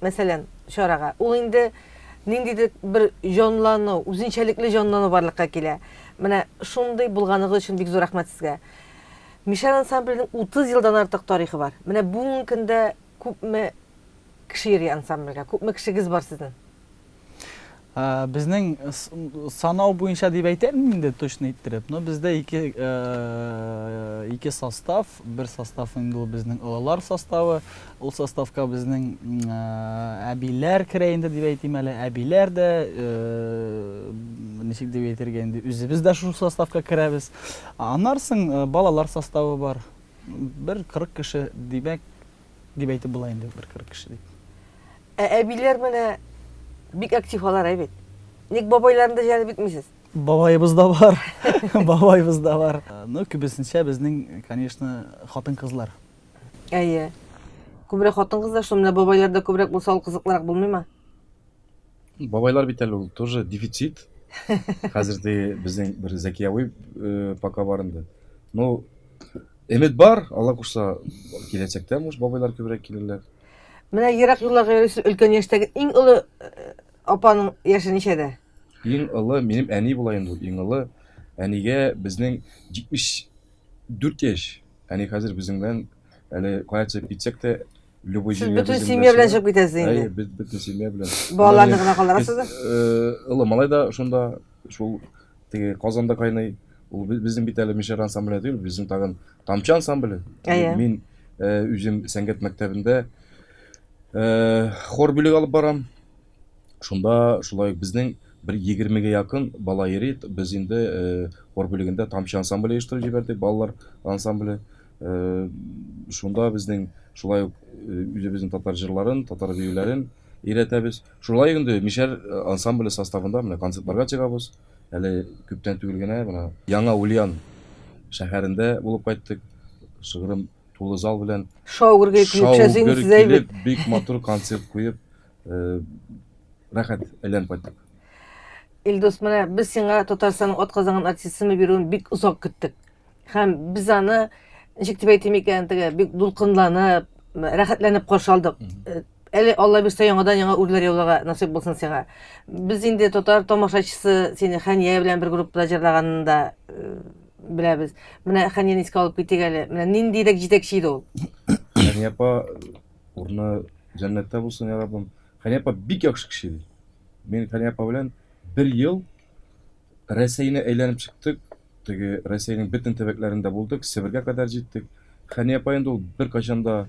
мәсәлән, чарага. Ул инде ниндидер бер җанлану, үзенчәлекле җанлану барлыкка килә. Менә шундый булганыгыз өчен бик зур рәхмәт сезгә. Мишәр ансамбленең 30 елдан артык тарихы бар. Менә бүгенге көндә күпме кеше йөри ансамбльгә, күпме кешегез бар сезнең? Безнең санау буенча дип әйтәм инде точно иттереп, но бездә ике ике состав, бер состав инде ул безнең олылар составы. Ул составка безнең әбиләр керә инде дип әйтим әле. Әбиләр дә ничек дип әйтергә инде, үзебез дә шул составка керәбез. Аннары балалар составы бар. Бер 40 кеше, димәк, дип әйтеп була инде бер кырык кеше дип ә әбиләр менә бик актив алар әй бит ник бабайларны да җәлеп итмисез бабаебыз да бар бабаебыз да бар ну күбесенчә безнең конечно хатын кызлар әйе күбрәк хатын кызлар шул менә бабайларда күбрәк булса ул кызыклырак булмыймы бабайлар бит әле ул тоже дефицит хәзерде безнең бер зәкияви э, пока бар инде ну Өмет бар, Алла кушса, киләчәктә муш бабайлар күбрәк килерләр. Менә ерак юлларга йөрисез, өлкән яшьтәге иң олы э, апаның яше ничәдә? Иң олы минем әни була инде ул. Иң олы әнигә безнең 74 яшь. Әни хәзер безнең белән әле кая төшеп китсәк тә любой Сез җиргә бөтен безнең семья белән чыга. чыгып китәсез Әй, инде. бөт- бөтен семья белән. Балаларны Аннан гына калдырасыз да? Э, Олы малай да шунда шул теге казанда кайный ул безнең бит әле мишәр ансамбле түгел безнең тагын тамчы ансамбле әйе мин э, үзем сәнгать мәктәбендә э, хор бүлеге алып барам шунда шулай безнең бер егермегә якын бала йөри без инде э, хор бүлегендә тамчы ансамбле оештырып җибәрдек балалар ансамбле шунда безнең шулай ук үзебезнең татар җырларын татар биюләрен өйрәтәбез Шулай ук инде Мишәр ансамбле составында менә концертларга чыгабыз. Әле күптән түгел генә менә Яңа Ульян шәһәрендә булып кайттык. Шыгрым тулы зал белән. Шаугыр килеп төшә син сез әйбәт. Бик матур концерт куеп, рәхәт әйләнеп кайттык. Илдус, менә без сиңа Татарстанның атказанган артисты исеме бирүен бик озак көттек. Һәм без аны, ничек дип әйтим икән, теге бик дулкынланып, рәхәтләнеп каршы алдык. Әле Алла бирсә яңадан яңа үрләр яуларга насыйп булсын сиңа. Без инде татар тамашачысы сине Хәния белән бер группада җырлаганын да э, беләбез. Менә Хәнияне искә алып китик әле. Менә ниндирәк җитәкче иде ул? Хәния апа урыны җәннәттә булсын, я Раббым. Хәния апа бик яхшы кеше иде. Мин Хәния апа белән бер ел Рәсәйне әйләнеп чыктык. Теге Рәсәйнең бөтен төбәкләрендә булдык, Себергә кадәр җиттек. Хәния апа инде ул беркайчан да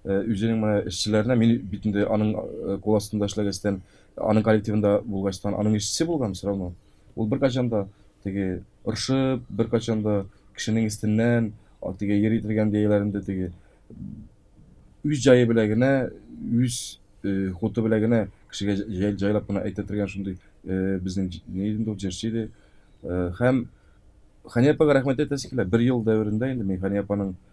Үзенең менә эшчеләренә, мин бит инде аның кул астында эшләгәчтән, аның коллективында булгачтан, аның эшчесе булган все равно. Ул беркайчан да теге орышып, беркайчан да кешенең өстеннән теге йөри торган җәяләрендә теге үз җае белән генә, үз хуты белән генә кешегә җайлап кына әйтә торган шундый безнең ни иде инде ул җырчы иде. Һәм Хания апага рәхмәт әйтәсе килә. Бер ел дәверендә инде мин Хания апаның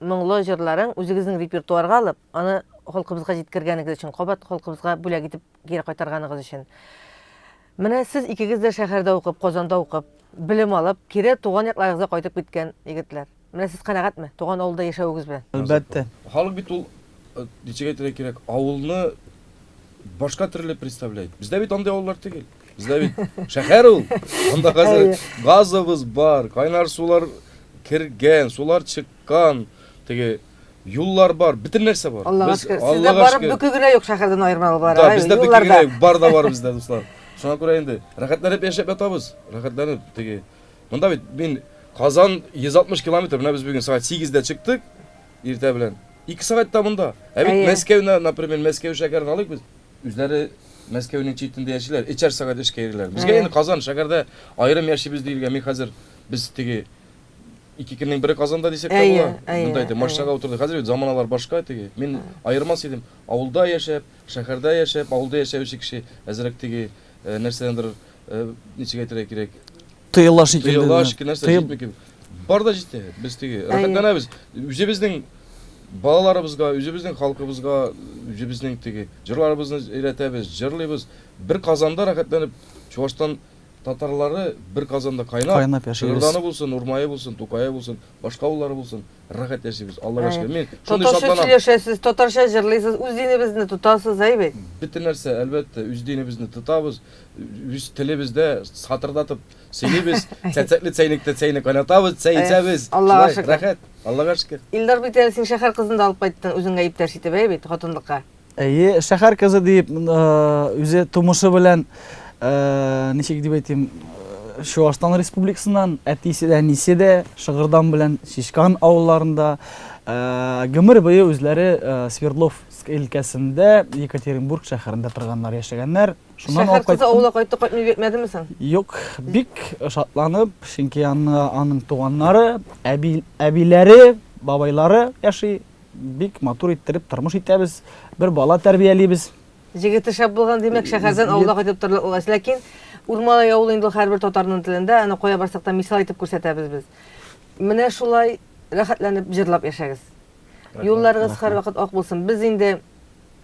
моңлы җырларын үзегезнең репертуарга алып, аны халкыбызга җиткергәнегез өчен, кабат халкыбызга бүләк итеп кире кайтарганыгыз өчен. Менә сез икегез дә шәһәрдә укып, Казанда укып, белем алып, кире туган якларыгызга кайтып киткән егетләр. Менә сез канәгатьме туган авылда яшәвегез белән? Әлбәттә. Халык бит ул, ничек әйтергә кирәк, авылны башка төрле представляет. Бездә бит андый авыллар түгел. Бездә бит шәһәр ул. Анда хәзер газыбыз бар, кайнар сулар кергән, сулар чыккан, теге юллар бар, бөтен нәрсә бар. Аллага шөкер. Сездә барып бүке генә юк шәһәрдән аермалы бар. Да, бездә бүке генә юк, бар да бар бездә, дуслар. Шуңа күрә инде рәхәтләнеп яшәп ятабыз. Рәхәтләнеп теге. Монда бит мин Казан 160 километр, менә без бүген сәгать 8-дә чыктык, иртә белән. 2 сәгатьтә монда. Ә бит Мәскәүне, например, Мәскәү шәһәрен алыйк без. Үзләре Мәскәүнең читендә яшиләр, өчәр сәгать эшкә йөриләр. Безгә Әйе. инде Казан шәһәрдә аерым яшибез диелгән. Мин хәзер без теге ике көннең бере Казанда дисәк тә Әйе, була. әйе, Монда әйтә, әйе. машинага утырдык. Хәзер бит заманалар башка теге. Мин аермас идем. Авылда яшәп, шәһәрдә яшәп, авылда яшәүче кеше әзрәк теге, э, нәрсәдәндер, э, ничек әйтергә кирәк, Тыела шикелле. Тыела шикелле нәрсә җитми кебек. Бар да җитә. Без теге рәхәтләнәбез. Үзебезнең балаларыбызга, үзебезнең халкыбызга, үзебезнең теге җырларыбызны өйрәтәбез, җырлыйбыз. Бер Казанда рәхәтләнеп Чувашстан татарлары бер Казанда кайнап, кайнап яшибез. Шыгырданы булсын, Урмае булсын, Тукае булсын, башка авыллары булсын. Рәхәт яшибез, Аллага Әйе. шөкер. Мин шундый Татарча шатланам. сөйләшәсез, татарча җырлыйсыз, үз динебезне тотасыз, әй бит. Бөтен нәрсә, әлбәттә, үз динебезне тотабыз, үз телебездә сатырдатып сөйлибез, цәцәкле цәйнектә чәйне кайнатабыз, чәй Әйе. эчәбез. Аллага Шулай, шөкер. рәхәт, Аллага шөкер. Илдар бит әле син шәһәр кызын да алып кайттың үзеңә иптәш итеп, әй бит, хатынлыкка. Әйе, шәһәр кызы дип, үзе тумышы белән, ничек дип әйтим, Чуашстан Республикасыннан, әтисе дә, әнисе дә, Шыгырдан белән Шишкан авылларында, гомер буе үзләре Свердлов өлкәсендә Екатеринбург шәһәрендә торганнар, яшәгәннәр. Шуннан Шәһәр кызы авылга кайтты, кайтмый бетмәдеме соң? Юк, бик шатланып, чөнки аны аның туганнары, әби, әбиләре, бабайлары яши Бик матур иттереп тормыш итәбез, бер бала тәрбиялибез. Җегете шәп булган, димәк, шәһәрдән авылга кайтып торырлык ул. Ләкин Урмалай авылы инде һәрбер татарның телендә, аны кая барсак та мисал итеп күрсәтәбез без. Менә шулай рәхәтләнеп җырлап яшәгез. Юлларыгыз һәрвакыт ак булсын. Без инде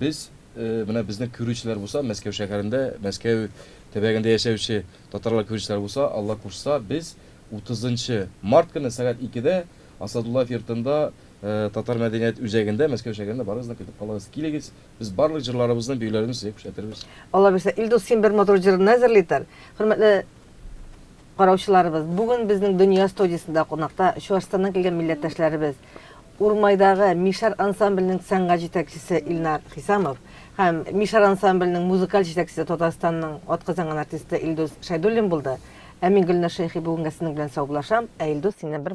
Без, менә безнең күрүчеләр булса, Мәскәү шәһәрендә, Мәскәү төбәгендә яшәүче татарлар күрүчеләр булса, Алла кушса, без 30 нчы март көне сәгать икедә Асадуллаев йортында, татар мәдәният үзәгендә, Мәскәү шәһәрендә барыгызны көтеп калабыз. Килегез, без барлык җырларыбызны, биюләребезне сезгә күрсәтербез. Алла бирсә, Илдус, син бер матур җырны әзерли тор. Хөрмәтле Караучыларыбыз, бүген безнең Дөнья студиясендә кунакта Чуашстаннан килгән милләттәшләребез, Урмайдагы Мишар ансамбленең сәнгать җитәкчесе Илнар Хисамов һәм Мишар ансамбленең музыкаль җитәкчесе Татарстанның атказанган артисты Илдус Шәйдуллин булды. Ә мин, Гөлназ Шәйхи, бүгенгә сезнең белән саубуллашам, ә Илдус, синнән бер